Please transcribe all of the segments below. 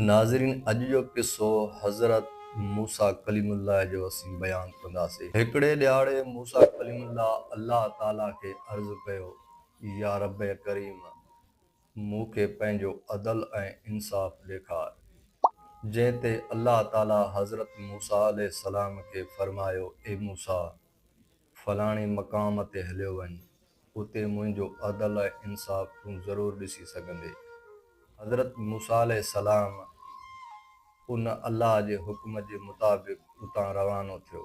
ناظرين اڄ جو قصو حضرت موسيٰ ڪليم الله جو اسين بيان ڪنداسين. هڪڙي ڏهاڙي موسيٰ ڪليم الله الله تعاليٰ کي عرض ڪيو، يا ربّ ڪريم! مون کي پنهنجو عدل ۽ انصاف ڏيکار. جنهن تي الله تعاليٰ حضرت موسيٰ عليه السلام کي فرمايو، اي موسيٰ! فلاڻي مقام تي هليو وڃ، اتي منهنجو عدل ۽ انصاف تون ضرور ڏسي سگهندين. حضرت موسيٰ عليه السلام ان الله جي حڪم جي مطابق اتان روانو ٿيو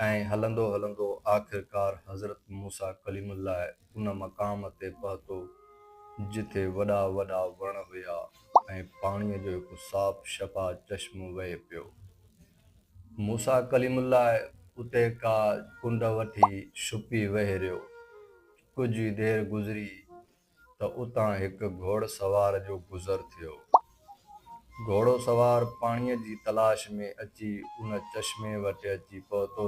۽ هلندو هلندو آخرڪار حضرت موسيٰ ڪليم الله ان مقام تي پهتو جتي وڏا وڏا وڻ هيا ۽ پاڻيء جو هڪ صاف شفا چشمو وهي پيو. موسيٰ ڪليم الله اتي ڪا ڪنڊ وٺي ڇپي ويهريو. ڪجهه ئي دير گذري ته اتان هڪ گهوڙ سوار جو گذر ٿيو. گهوڙو سوار پاڻيء جي تلاش ۾ اچي ان چشمي وٽ اچي پهتو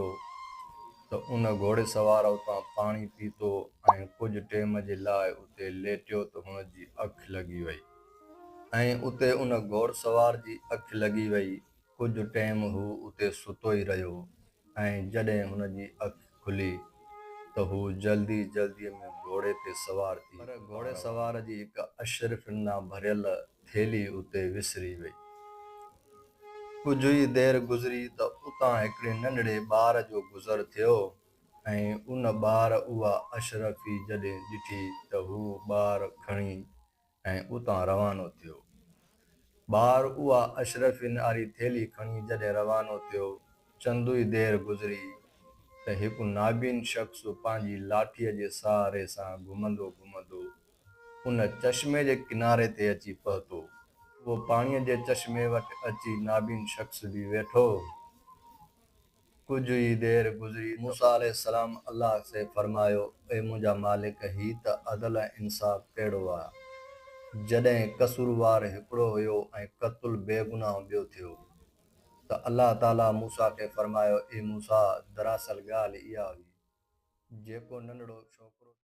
ته ان گهوڙي سوار اتان پاڻي پيتو ۽ ڪجهه ٽيم جي لاء اتي ليٽيو ته هن جي اک لڳي وئي ۽ اتي ان گهوڙ سوار جي اک لڳي وئي. ڪجهه ٽيم هو اتي ستو ئي رهيو ۽ جڏهن هن جي اک کلي ته هو جلدي جلدي ۾ گهوڙي تي سوار ٿي پر گهوڙي سوار جي هڪ اشرفين نا ڀريل ٿيلهي اتي وسري وئي. ڪجهه ئي دير گذري ته اتان هڪڙي ننڍڙي ٻار جو گذر ٿيو ۽ ان ٻار اها اشرفي جڏهن ڏٺي ته هو ٻار کڻي ۽ اتان روانو ٿيو. ٻار اها اشرفين واري ٿيلهي کڻي جڏهن روانو ٿيو، چندو ئي دير گذري ته هڪ نابين شخص پنهنجي لاٺيء جي سهاري سان گهمندو گهمندو ان چشمي جي ڪناري تي اچي پهتو. اهو پاڻيء جي چشمي وٽ اچي نابين شخص به ويٺو. ڪجهه ئي دير گذري ته موسيٰ عليه السلام الله کي فرمايو، اي منهنجا مالڪ! هي ته عدل ۽ انصاف ڪهڙو آ، جڏهن قصوروار هڪڙو هيو ۽ قتل بيگناهه ٻيو ٿيو. ته الله تعاليٰ موسيٰ کي فرمايو، اي موسيٰ! دراصل ڳالهه اها هئي، جيڪو ننڍڙو ڇوڪرو ٿيو.